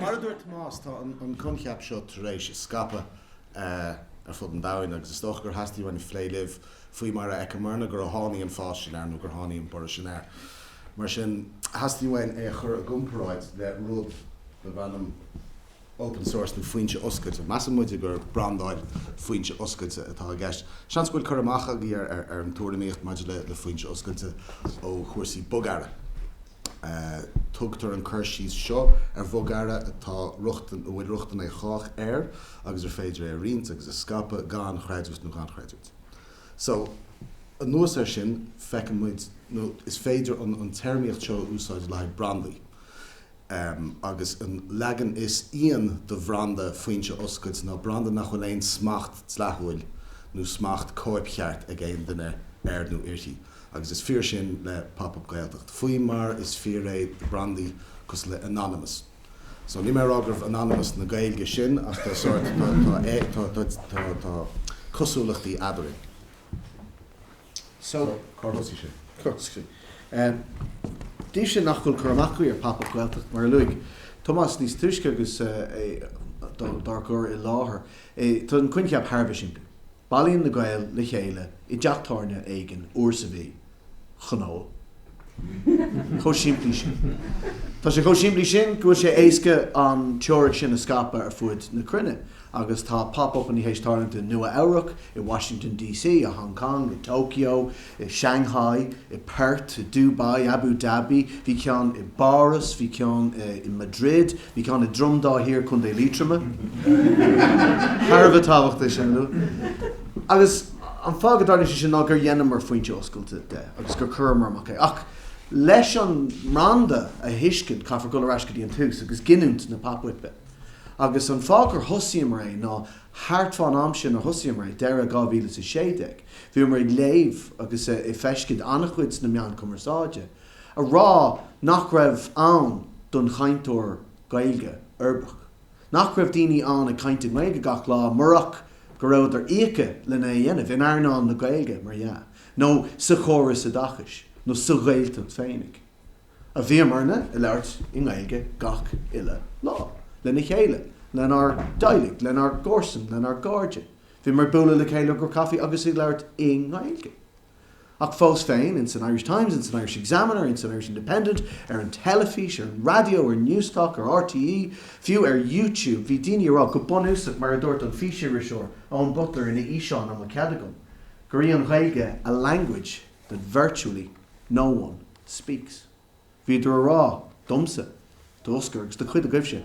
Mar a dúirt Tomás, tá an coincheap seo tar éis a scaipeadh ar fud an domhain agus is dócha gur theastaigh uainn plé libh faoi mar a chonaiceamarna gur tháinig an fás sin air nó gur tháinig an borradh sin air. Mar sin, theastaigh uainn é a chur i gcomparáid le rud darbh ainm. open source nó foinse oscailte. Measann muide gur brandáil foinse oscailte atá i gceist. Seans go bhfuil cur amach agaibh ar an tuairimíocht maidir le foinse oscailte ó chúrsaí bogearra. Tugtar an cur síos seo ar bhogearra atá rochtain, a bhfuil rochtain ag chách air agus ar féidir é a roinnt agus a scaipeadh gan chredit nó gan chreidiúint. So, anuas air sin, feiceann muid, nó is féidir an téarmaíocht seo a úsáid le haghaidh brandaí. Agus an leagan is íon de bhranda foinse oscailte ná branda nach bhfuil aon smacht dleathúil nó smacht cóipcheart ag aon duine air nó uirthi. Agus is fíor sin le Pop Up Gaeltacht, faoi mar is fíor é do brandaí cosúil le Anonymous. So, níl mé ag rá gurbh Anonymous na Gaeilge sinn, ach tá sórt, tá cosúlachtaí eadrainn. So. So, cár thosaigh sé? Cár thosaigh sé? Daoibh sin nach bhfuil cur amach agaibh ar Pop Up Gaeltacht, mar a luaigh Tomás níos túisce agus é dár gcur i láthair, tá an coincheap thar a bheith simplí. Bailíonn na Gaeil le chéile i dteach tábhairne éigin uair sa mhí chun ól. Chomh simplí sin. Tá sé chomh simplí sin go bhfuil sé éasca an teoiric sin a scaipeadh ar fud na cruinne. agus tá Pop Uppaí tar éis tarlú i Nua Eabhrac, i Washington DC, i Hong Kong, i Tokyo, i Shanghai, i Perth, i Dubai, Abu Dhabi, bhí ceann i bPáras, bhí ceann i Madrid, bhí ceann i Droim Dhá Thiar, Contae Liatroma, thar a bheith tábhachtach sin, nó, agus an fáth go dtarlaíonn sé sin ná gur dheineamar foinse oscailte de agus gur chuireamar amach é. Ach leis an mbranda a thuiscint, caithfear dul ar ais go dtí an tús agus giniúint na pop-uipe. Agus an fáth gur thosaíomar é ná thart fán am sin a thosaíomar é, deireadh 2016, bhíomar ag léamh agus ag feiscint an-chuid sna meáin cumarsáide ag rá nach raibh ann don chainteoir Gaeilge uirbeach. Nach raibh daoine ann ag caint i nGaeilge gach lá murach go rabhadar íoctha lena é a dhéanamh, in earnáil na Gaeilge, mar dhea, nó sa chóras oideachais, nó sa Ghaeltacht féinig. a bhíomarna ag labhairt i nGaeilge gach uile lá, le chéile, lenár dteaghlaigh, lenár gcomharsain, lenár gcairde. Bhíomar ag bualadh le chéile do chaife agus ag labhairt i nGaeilge. Ach fós féin, ins an Irish Times, ins an Irish Examiner, ins an Irish Independent, ar an teilifís, ar an raidió, ar Newstalk, ar RTÉ, fiú ar YouTube, bhí daoine ag rá, go bunúsach, mar a dúirt an físiriseoir Eoin Butler ina fhíseán, an bhfuil cead agam? gur í an Ghaeilge 'a language'. that virtually no one speaks. Bhíodar a rá domsa, d'Osgur agus do chuid agaibhse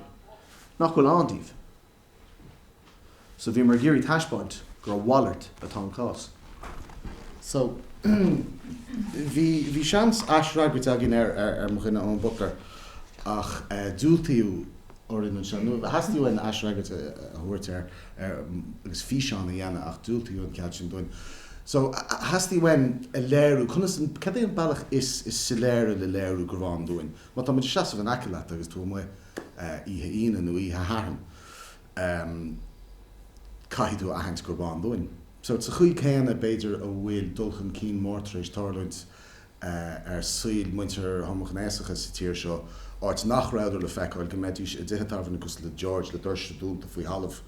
nach bhfuil ann daoibh. So bhíomar ag iarraidh taispeáint gur a mhalairt atá an cás. So bhí bhí seans aisfhreagairt againn ar ar ar mo dhuine Eoin Butler ach diúltaíodh. orainn anseo. Nó theastaigh uainn aisfhreagairt a thabhairt air agus físeán a dhéanamh ach diúltaíodh an cead sin dúinn. So, theastaigh uainn a léiriú conas an, cad é an bealach is is soiléire le léiriú gurb ann dúinn. Má tá muid ag seasamh in aice leat agus tú amuigh oíche Aoine nó oíche Shathairn, em, caithfidh tú a aithint gurb ann dúinn. So, sa chaoi céanna, b'fhéidir, a bhfuil dul chun cinn mór tar éis tarlúint ar saol muintir homaighnéasacha sa tír seo, áit nach rabhadar le feiceáil, go mbeidís i dtithe tábhairne cosúil le George le doirse dúnta faoi thalamh.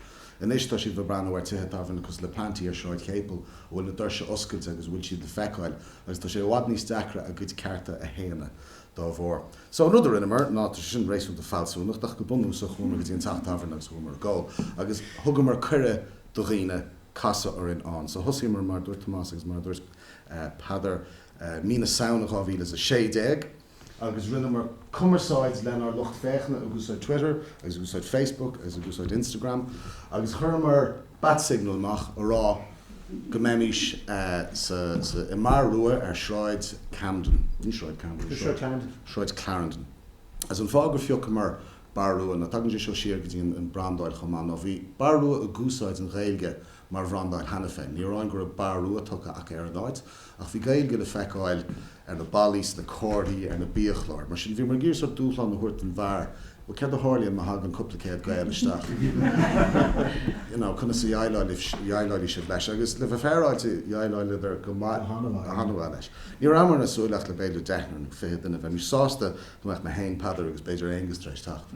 Anois tá sibh ag breathnú ar tithe tábhairne cosúil le Panti ar Sráid Chéipil a bhfuil na doirse oscailte agus a bhfuil siad le feiceáil agus tá sé i bhfad níos deacra a gcuid cearta a shéanadh dá bharr. So an rud a rinneamar ná, tá sé sin réasúnta fealsúnach ach go bunúsach chuamar go dtí an teach tábhairne agus chuamar ag ól agus thugamar cuireadh do dhaoine casadh orainn ann. So thosaíomar mar a dúirt Tomás agus mar a dúirt. Peadar, mí na Samhna 2016 agus rinneamar cumarsáid lenár lucht féachana ag úsáid Twitter agus ag úsáid Facebook agus ag úsáid Instagram agus chuireamar bat signal amach a rá go mbeimís sa i mBar Rua ar Sráid Camden, ní Sráid Camden, Sráid Clarendon, Sráid Clarendon agus an fáth gur phiocamar Bar Rua ná tagann sé seo siar go dtí an brandáil chomh maith ná bhí Bar Rua ag úsáid an Ghaeilge mar bhranda ann cheana féin. Ní amháin go raibh Bar Rua tugtha acu ar an áit, ach bhí Gaeilge le feiceáil ar na ballaí, sna comharthaí, ar na biachláir. Mar sin, bhíomar ag iarraidh sórt dúshlán a thabhairt don bheár, bhuel, céard a tharlaíonn má thagann cúpla céad Gael isteach? You know, conas a dheighleálfaidh sibh leis? Agus le bheith féaráilte, dheighleáladar go maith, go han-mhaith leis. Ní rabhamarna ag súil ach le b'fhéidir deichniúr nó fiche duine, bheimis sásta go mbeadh mé féin, Peadar agus b'fhéidir Aonghus tar éis teacht.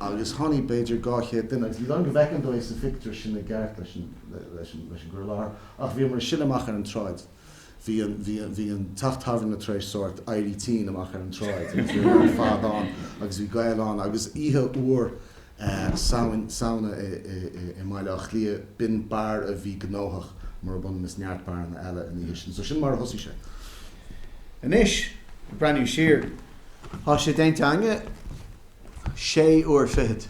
Agus tháinig b'fhéidir dhá chéad duine agus is dóigh liom go bhfeiceann tú sa phictiúr sin i gceart leis an gcur i láthair. Ach bhíomar ag sileadh amach ar an tsráid, bhí an teach tábhairne tar éis sórt éirí tinn amach ar an tsráid agus bhíomar ar fad ann agus bhí Gaeil ann agus oíche fhuar, Samhain, Samhna i mBaile Átha Cliath. B'in beár a bhí gnóthach, murab ionann is neart beáranna eile an oíche sin. So sin mar a thosaigh sé. Anois, ag breathnú siar, tá sé déanta againne sé uair fichead.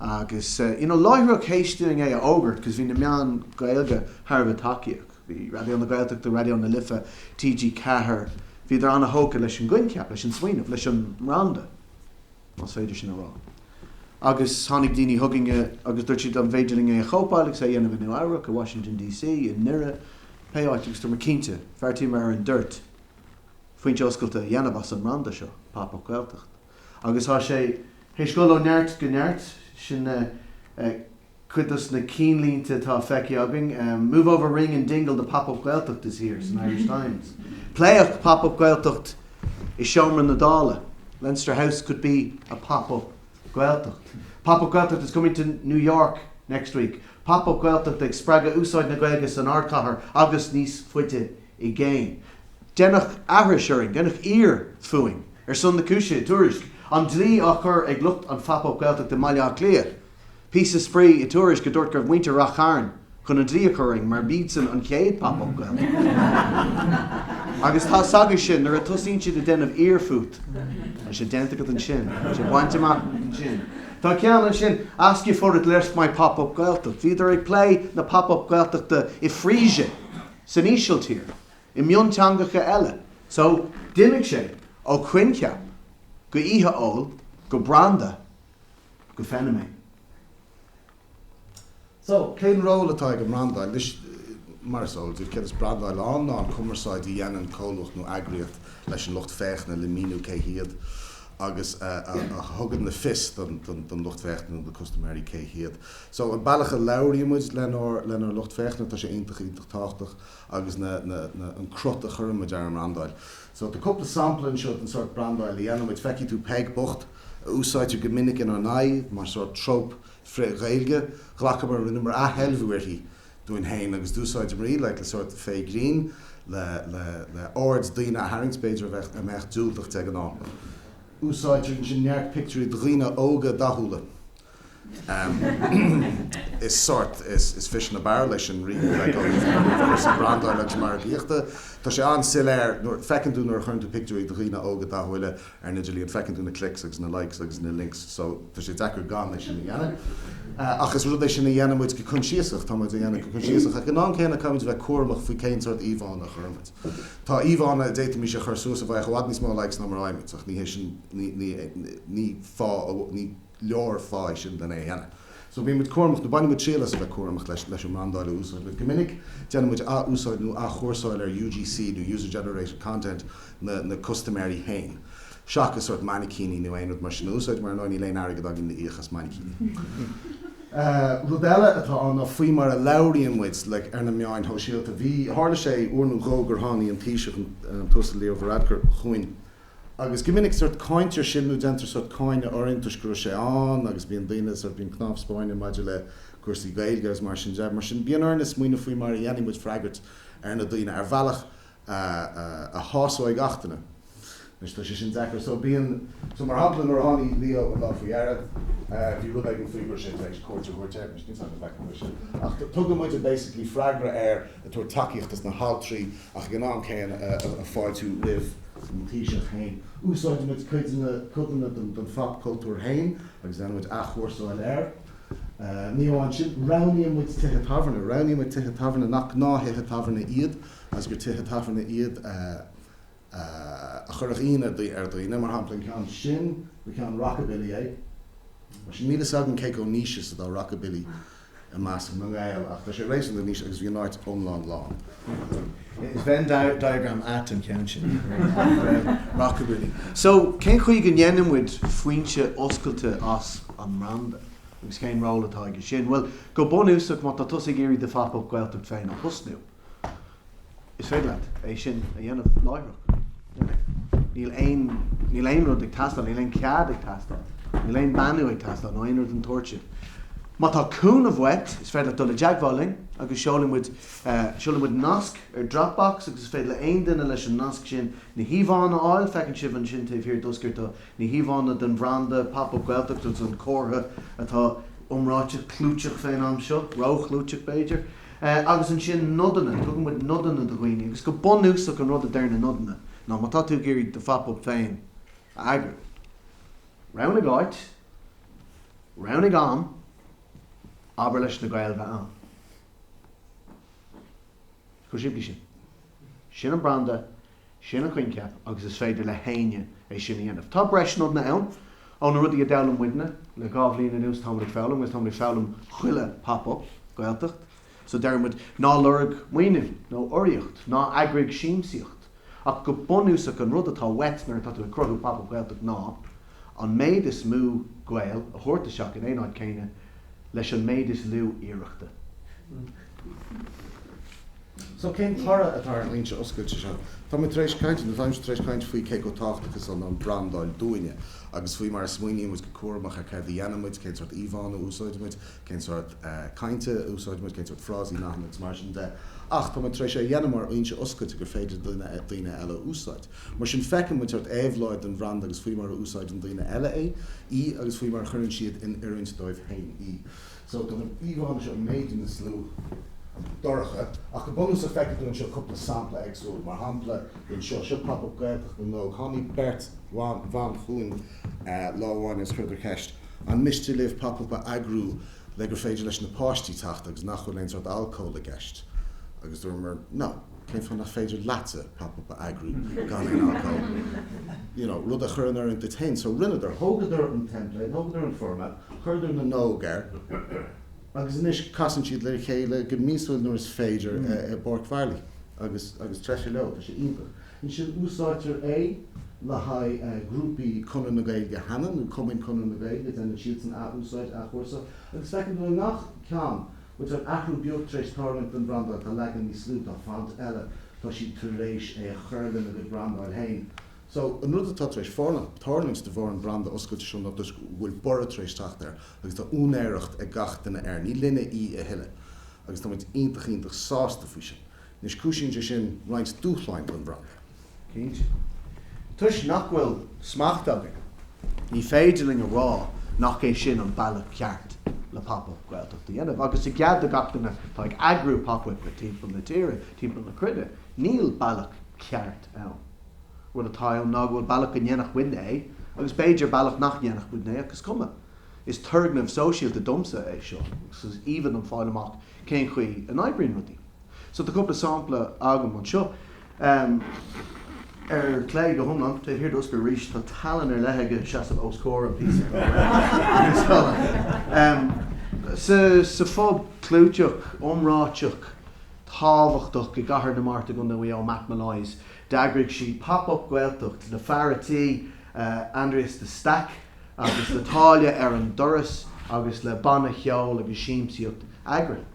Agus, you know, láithreach théis dúinn é a fhógairt, cos bhí na meáin Gaeilge thar a bheith tacaíoch. Bhí Raidió na Gaeltachta, Raidió na Life, TG4, bhíodar ana-thógtha leis an gcoincheap, leis an smaoineamh, leis an mbranda. más féidir sin a rá. Agus tháinig daoine chugainne agus dúirt siad an bhféidir linn é a chóipeáil agus é a dhéanamh i Nua Eabhrac, i Washington DC, i nDoire, pé áit agus dúramar cinnte, bheartaíomar ar an dtoirt, foinse oscailte a dhéanamh as an mbranda seo, Pop-Up Gaeltacht. Agus tá sé. Théis dul ó neart go neart, sin Cuid dos na cinnlínte atá feicthe againn, Move over Ring and Dingle the Pop-Up Gaeltacht is here san Irish Times. Pléadh Pop-Up Gaeltacht i seomra na Dála. Leinster House could be a Pop-Up Gaeltacht. Pop-Up Gaeltacht is coming to New York next week. Pop-Up Gaeltacht ag spreagadh úsáid na Gaeilge san Ardchathair agus níos faide i gcéin. Deineadh aithris orainn, deineadh aor fúinn. Ar son na cúise, tuairisc, An dlí á chur ag lucht an Pop-Up Gaeltacht i mBaile Átha Cliath. Píosa spraoi i Tuairisc a dúirt go raibh muintir Rath Chairn chun an dlí a chur orainn mar b'iadsan an chéad Pop Up Gaeltacht. Agus tá a fhios agat sin, nuair a tosaíonn siad ag déanamh aor fút, tá sé déanta agat ansin, tá sé bainte amach agat ansin. Tá ceann ansin, Ask if I'd let my Pop Up Gaeltacht. Bhíodar ag plé na Pop Up Gaeltachta i Frisia, san Ísiltír, i mionteangacha eile. So, d'imigh sé ó choincheap go oíche óil go branda. go feiniméan. So, cén ról atá ag an mbrandáil? Anois, mar is eol daoibh, céard is brandáil ann ná an chumarsáid a dhéanann comhlucht nó eagraíocht leis an lucht féachana le míniú cé hiad agus a thugann le fios don lucht féachana nó do custaiméirí cé hiad. So, an bealach a labhraíonn muid lenár lucht féachana, tá sé iontach iontach tábhachtach agus an cruth a chuireann muid ar an mbrandáil. So, tá cúpla sampla anseo den sórt brandáil a dhéanann muid. Feicfidh tú Peig bocht. a úsáideadh go minic inár n-aghaidh mar sórt tróp frith-Ghaeilge, ghlacamar, rinneamar athsheilbhiú uirthi dúinn féin agus d'úsáideamar í le sórt fake grin le aird daoine a tharraingt, b'fhéidir, a mbeadh diúltach de ghnáth. Úsáidtear ansin neart pictiúirí de dhaoine óga dathúla Is sórt, is fish in a barrel é sin rí le Gaeilge féin ar bhealach sa brandáil agus sa mhargaíocht. Tá sé an-soiléir nuair, feiceann tú nuair a chuireann tú pictiúirí de dhaoine óga dathúla ar an idirlíon, feiceann tú na clicks agus na likes agus na links so tá sé deacair gan é sin a dhéanamh. Ach is rud é sin a dhéanann muid go coinsiasach, tá muid á dhéanamh go coinsiasach ach in am céanna caithfidh muid a bheith cúramach faoi cén sórt íomhánna a chuireann muid. Tá íomhánna a d'fhéadfaimis a chur suas a bhfaigheadh i bhfad níos mó likes ná mar a fhaighimid ach ní hé sin, ní, ní, ní, ní fáth, ní, leor fáth sin len é a dhéanamh. So bíonn muid cúramach, nó baineann muid triail as a bheith cúramach leis, leis an mbrandáil a úsáidimid. Go minic déanann muid ath-úsáid nó athchúrsáil ar UGC nó User Generated Content nó na custaiméirí féin. Seachas sórt mainicíní nó aon rud mar sin a úsáid, mar ar ndóigh níl aon airgead againn le íoc as mainicíní. Rud eile atá ann ná faoi mar a labhraíonn muid, like, ar na meáin shóisialta. Bhí, tharla sé uair nó dhó gur thánaigh an Taoiseach, an tUasal Leo Varadkar, chugainn. Agus go minic sórt cáintear sinn nó déantar sórt cáineadh orainn toisc go raibh sé ann agus bíonn daoine, sórt, bíonn cnámh spairne maidir le cúrsaí Gaeilge agus mar sin de. Mar sin, bíonn orainne smaoineamh faoi mar a dhéanfaidh muid freagairt ar na daoine ar bhealach a shásóidh gach duine. Anois, tá sé sin deacair. So, bíonn, so, mar shampla, nuair a tháinig Leo an lá faoi dheireadh, bhí rud éigin faoi go raibh sé tar éis cuairt a thabhairt ar, anois, níl 's agam an fact an bhfuil sé, ach tugann muid basically freagra air ag tabhairt tacaíochta dos na haltraí, Ach ag an am céanna ag fáiltiú roimh an Taoiseach féin. Úsáideann muid codanna den phop cultúr féin agus déanann muid athchúrsáil air. Ní amháin sin, roghnaíonn muid tithe tábhairne. Roghnaíonn muid tithe tábhairne nach gnáth-thithe tábhairne iad agus gur tithe tábhairne iad a chuirfeadh ionadh ar dhaoine. Mar shampla, an ceann sin, ba ceann rockabilly é. Mar sin, níl fhios agam cé chomh niche is atá rockabilly. i measc na nGael ach tá sé réasúnta niche agus bhí an áit iomlán lán. Is Venn diagram ait an ceann sin. Rockabilly. So cén chaoi go ndéanann muid foinse oscailte as an mbranda agus cén ról atá aige sin? Bhuel, go bunúsach má tá tusa ag iarraidh do phop-up Gaeltacht féin a thosnú, Is féidir leat é sin a dhéanamh láithreach. Níl aon, níl aon rud ag teastáil, níl aon cead ag teastáil, níl aon beannú ag teastáil nó aon rud den tsórt sin. Má tá cúnamh uait, is féidir leat dul i dteagmháil linn agus seolfaidh muid, seolfaidh muid nasc ar Dropbox agus is féidir le haon duine leis an nasc sin na híomhánna a fháil, feiceann sibh ansin taobh thiar d'Osgur, tá na híomhánna den bhranda Pop Up Gaeltacht agus an comhartha atá iomráiteach, clúiteach fén am seo, ró-chlúiteach b'fhéidir. Agus ansin nodanna, tugann muid nodanna do dhaoine agus go bunúsach an rud a deir na nodanna ná má tá tú ag iarraidh do Phop Up féin a eagrú, roghnaigh áit, roghnaigh am, abair leis na Gaeil bheith ann. Chomh simplí sin. Sin an branda Sin an coincheap agus is féidir le héinne é sin a dhéanamh. Tá breis nodanna ann ó na rudaí a d'fhoghlaim muidne le dhá bhliain anuas. Táimid ag foghlaim agus táimid ag foghlaim chuile Pop Up Gaeltacht so deireann muid ná lorg maoiniú nó urraíocht, ná eagraigh siamsaíocht ach go bunúsach an rud atá uait nuair atá tú ag cruthú Pop Up Gaeltacht ná An méid is mó Gael a thabhairt isteach in aon áit céanna leis an méid is lú iarrachta. So cén toradh atá ar an fhoinse oscailte seo? Tá muid tar éis caint, nó táimse tar éis caint faoi cé chomh tábhachtach is atá an brandáil dúinne, agus faoi mar a smaoiníonn muid go cúramach ar céard a dhéanann muid, cén sórt íomhánna a úsáideann muid, cén sórt cainte a úsáid muid, cén sórt frásaí, nathanna agus mar sin de. Ach tá muid tar éis é a dhéanamh mar fhoinse oscailte gur féidir daoine eile a úsáid. Mar sin feiceann muid sórt éabhláid den bhranda agus faoi mar a úsáideann daoine eile é, í agus faoi mar a chuireann siad in oiriúint dóibh féin í. So tá na híomhánna seo, b'fhéidir go bhfuil siad dorcha ach go bunúsach feicfidh tú anseo cúpla sampla éagsúil. Mar shampla den seo, seo Pop Up Gaeltacht na nÓg. Tháinig beirt bhan chugainn lá amháin agus chuireadar ceist. An miste libh Pop Up a eagrú le gur féidir leis na páistí teacht agus nach bhfuil aon sórt alcól i gceist? Agus dúramar No, cén fáth nach féidir leatsa Pop Up a eagrú gan aon alcól? You know, rud a chur in oiriúint duit féin. So rinneadar, thógadar an template, thógadar an formáid, chuireadar na nÓg air agus anois casann siad le chéile go míosúil nuair is féidir i bPáirc Marlay agus, agus treise leo, tá sé iontach. Ansin úsáidtear é le haghaidh grúpaí Chonradh na Gaeilge chomh maith, nó cumainn Chonradh na Gaeilge, déanann siadsan athúsáid, athchúrsáil, agus feicim go bhfuil i ngach ceann, bhfuil athrú beag tar éis tarlúint don bhrandáil, tá leagan níos lú dá font eile, tá siad tar éis é a chur lena gcuid brandáil féin. So, an rud atá tar éis tarlúint de bharr an bhranda oscailte seo ná go bhfuil borradh tar éis teacht air agus tá úinéireacht ag gach duine air, ní linne í a thuilleadh agus táimid iontach iontach sásta faoi sin. Anois cúisíonn sé sin roinnt dúshlán don bhranda, cinnte. Toisc nach bhfuil smacht againn, ní féidir linn a rá nach é sin an bealach ceart le Pop Up Gaeltacht a dhéanamh. Agus i gcead do gach duine atá ag eagrú Pop Up timpeall na tíre, timpeall na cruinne, níl bealach ceart ann. Rud atá ann ná go bhfuil bealach go ndéanfadh muidne é agus b'fhéidir bealach nach ndéanfadh muidne é ach is cuma. Is turgnamh sóisialta domsa é seo agus is aoibhinn liom fáil amach cén chaoi a n-oibríonn rudaí. So tá cúpla sampla agam anseo. Ar clé, go hiomlán, taobh thiar d'Osgur arís, tá tallann ar leith aige seasamh os comhair an phictiúir. Sa phub clúiteach, iomráiteach, tábhachtach i gCathair na Mart i gContae Mhaigh Eo, Matt Molloy's, d'eagraigh siad Pop Up Gaeltacht le fear a' tí, Aindrias de Staic. agus le táille ar an doras agus le banna ceoil agus siamsaíocht eagraithe.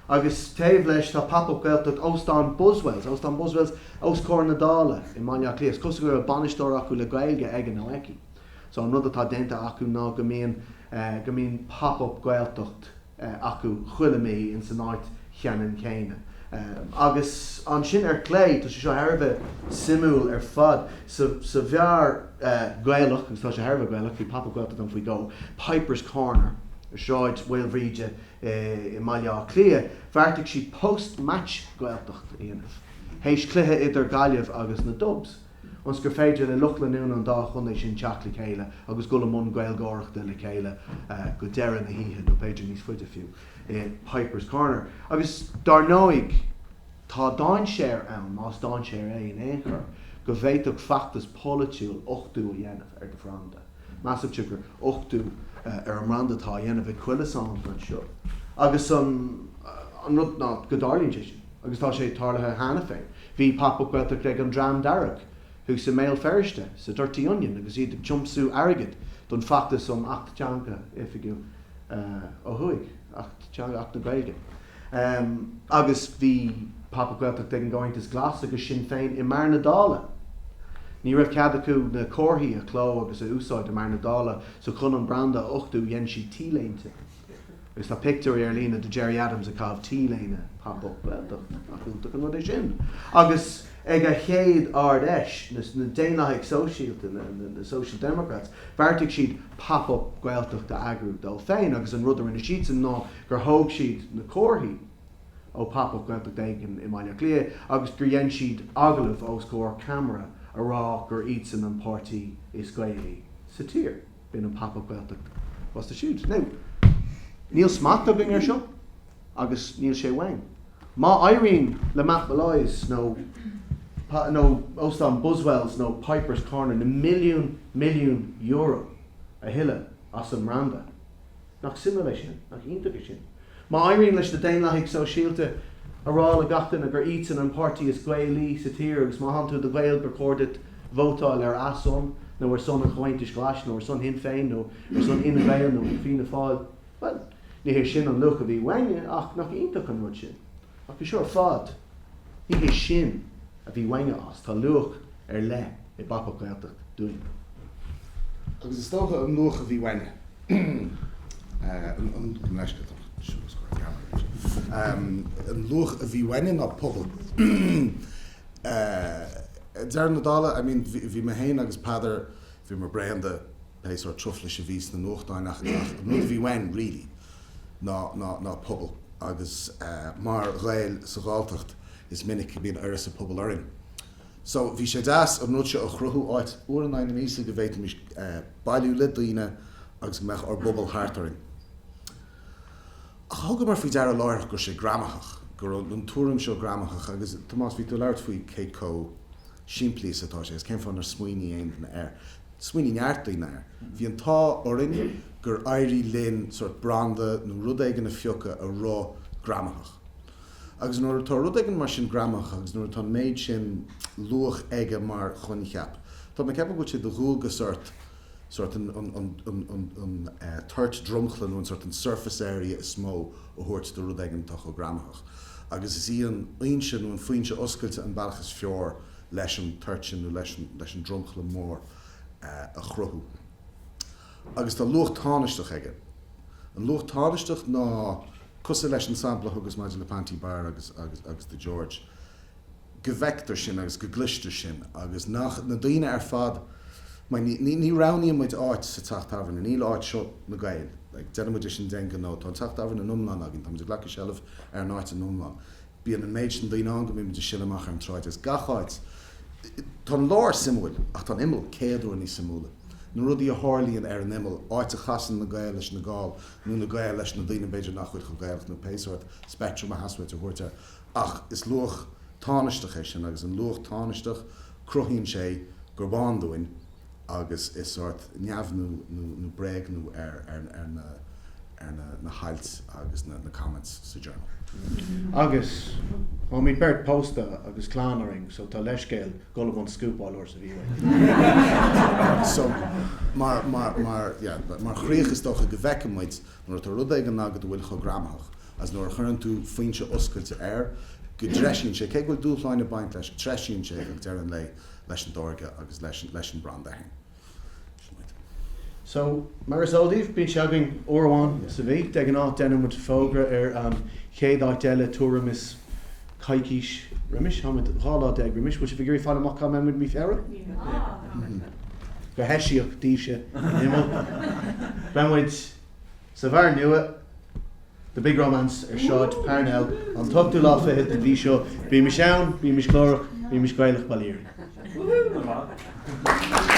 Agus taobh leis tá Pop Up Gaeltacht Óstán Buswells, Óstán Buswells os comhair na Dála i mBaile Átha Cliath. Is cosúil go raibh bainisteoir acu le Gaeilge aige nó aici. So an rud atá déanta acu ná go mbíonn, go mbíonn Pop Up Gaeltacht, acu chuile mí ins an áit cheannann chéanna. Agus ansin ar clé, tá sé seo thar a bheith suimiúil ar fad, sa bheár Gaelach, agus tá sé thar a bheith Gaelach, bhí Pop-Up Gaeltacht ann faoi dhó, Piper's Corner, i Sráid Mhaoilbhríde i mBaile Átha Cliath, bheartaigh siad post-match Gaeltacht a dhéanamh, théis cluiche idir Gaillimh agus na Dubs. ionas gur féidir le lucht leanúna an dá chontae sin teacht le chéile agus dul i mbun Gaeilgeoireachta le chéile go deireadh na hoíche, nó b'fhéidir níos faide fiú, i Pipers Corner. Agus dar ndóigh, tá dainséar ann, más dainséar é in aon chor, go bhféadfadh feachtas polaitiúil uchtú a dhéanamh ar do bhranda. Measaimse gur uchtú ar an mbranda atá á dhéanamh ag chuile saint anseo, agus an rud ná go dtarlaíonn sé sin. agus tá sé tarlaithe cheana féin. Bhí Pop Up Gaeltacht ag An Dream Dearg thuas i mBéal Feirste, sa Dirty Onion agus iad ag tiomsú airgid don feachtas um Acht Teanga oifigiúil ó thuaidh, Acht Teanga, Acht na Gaeilge. Agus bhí Pop Up Gaeltacht ag an gComhaontas Glas agus Sinn Féin i mbeár na Dála. Ní raibh cead acu na comharthaí a chló agus a úsáid i mbeár na Dála so chun an branda a uchtú dhein siad T-léinte. Agus tá pictiúirí ar líne de Gerry Adams ag caitheamh T-léine Pop Up Gaeltacht, nach iontach an rud é sin? agus ag a chéad Ard Fheis, na Daonlathaigh Sóisialta, na Social Democrats, bheartaigh siad Pop Up Gaeltacht a eagrú dóibh féin agus an rud a rinne siadsan ná gur thóg siad na comharthaí ó Pop Up Gaeltacht éigin i mBaile Átha Cliath agus gur dhein siad agallamh os comhair ceamara a rá gur iadsan an páirtí is Gaelaí sa tír. B'in an Pop Up Gaeltacht fosta siúd. Now, níl smacht againn ar seo agus níl sé uainn. Má éiríonn le Matt Molloy's nó nó Óstán Buswells nó Pipers Corner na milliúin milliúin euro a thuilleadh as an mbranda, Nach suimiúil é sin? Nach iontach é sin? Má éiríonn leis na Daonlathaigh Sóisialta a rá le gach duine gur iadsan an páirtí is Gaelaí sa tír agus má thánn tú i do Ghael gur chóir duit vótáil ar a son nó ar son an Chomhaontais Ghlais nó ar son Shinn Féin nó ar son Fhine Gael nó Fianna Fáil, bhuel, ní hé sin an luach a bhí uainne ach nach iontach an rud sin? Ach é seo ar fad, ní hé sin a bhí uainne as. Tá luach ar leith i bPop Up Gaeltacht dúinn. Agus is dócha an luach a bhí uainne, an leisce atá orm, siúl is cur cheana anois, an luach a bhí uainne ná pobal. Ag deireadh na dála, I mean, bhí mé féin agus Peadar, bhíomar bréan de, pé sórt truflais a bhí sna nuachtáin ach an rud a bhí uainn really ná ná pobal agus mar Ghaeil sa Ghalltacht is minic go mbíonn uireasa pobail orainn so bhí sé deas an rud seo a chruthú áit uair in aghaidh na míosa go bhféadfaimis bailiú le daoine agus go mbeadh ár bpobal thart orainn. Ach thugamar faoi deara láithreach go raibh sé greamaitheach, go raibh an tuairim seo greamaitheach agus Tomás bhí tú ag labhairt faoi cé comh simplí is atá sé agus cén fáth nár smaoinigh aon duine air. Smaoinigh neart daoine air. Bhí an t-ádh orainn gur éirigh linn sórt branda nó rud éigin a phiocadh a raibh greamaitheach. Agus nuair atá rud éigin mar sin greamaitheach agus nuair atá an méid sin luach aige mar choincheap, tá mé ag ceapadh go bhfuil sé de dhualgas ort sórt an toirt dromchla nó an sórt an surface area is mó a thabhairt do rud éigin atá chomh greamaitheach. Agus is í an fhoinse nó an foinse oscailte an bealach is fearr leis an toirt sin nó leis an dromchla mór a chruthú. Agus tá luach tánaisteach aige. An luach tánaisteach ná cosúil leis an sampla a thugas maidir le Panti Bar agus The George. go bhfeictear sin agus go gcloistear sin agus nach, na daoine ar fad, mar ní, ní, ní roghnaíonn muid áit sa teach tábhairne, níl áit seo na Gaeil, like déanann muid é sin d'aon ghnó, tá an teach tábhairne in iomlán againn, tá muid ag glacadh seilbh ar an áit in iomlán, bíonn an méid sin daoine ann go mbíonn muid ag sileadh amach ar an tsráid agus gach áit, tá an lár suimiúil ach tá an imeall céad uair níos suimiúla, na rudaí a tharlaíonn ar an imeall, áit a chasann na Gaeil leis na Gall nó na Gaeil leis na daoine b'fhéidir nach bhfuil chomh Gaelach nó pé sórt speictrim a theastaíonn uait a thabhairt air. Ach is luach tánaisteach é sin agus an luach tánaisteach, cruthaíonn sé gurb ann dúinn agus is sórt neamhniú nó bréagnú ar na hailt agus na comments sa Journal. Agus, táimid beirt pósta agus clann orainn so tá leithscéal dhul i mbun scúpáil uair sa mhí uainn. So, mar chríoch is dócha go bhfeiceann muid nuair atá rud éigin agat a bhfuil chomh greamaitheach is nuair a chuireann tú foinse oscailte air, go dtreisíonn sé, cé go bhfuil dúshláin ag baint leis, treisíonn sé ag deireadh an lae leis an dtáirge agus leis an branda fhéin. Sin muid. So, mar is eol daoibh, bíonn sé againn uair amháin sa mhí. De ghnáth deineann muid fógra ar an chéad áit eile tuairim is coicís roimis. Tá muid 12 lá roimis. Bhfuil sibh ag iarraidh fáil amach cá mbeidh muid mí Feabhra? Go heisiach daoibhse in Imbolc. Beidh muid. Sa bheár nua The Big Romance ar Shráid Parnell an t-ochtú lá fichead den mhí seo, bímis ann, bímis glórach, bímis Gaelach bail ó Dhia oraibh.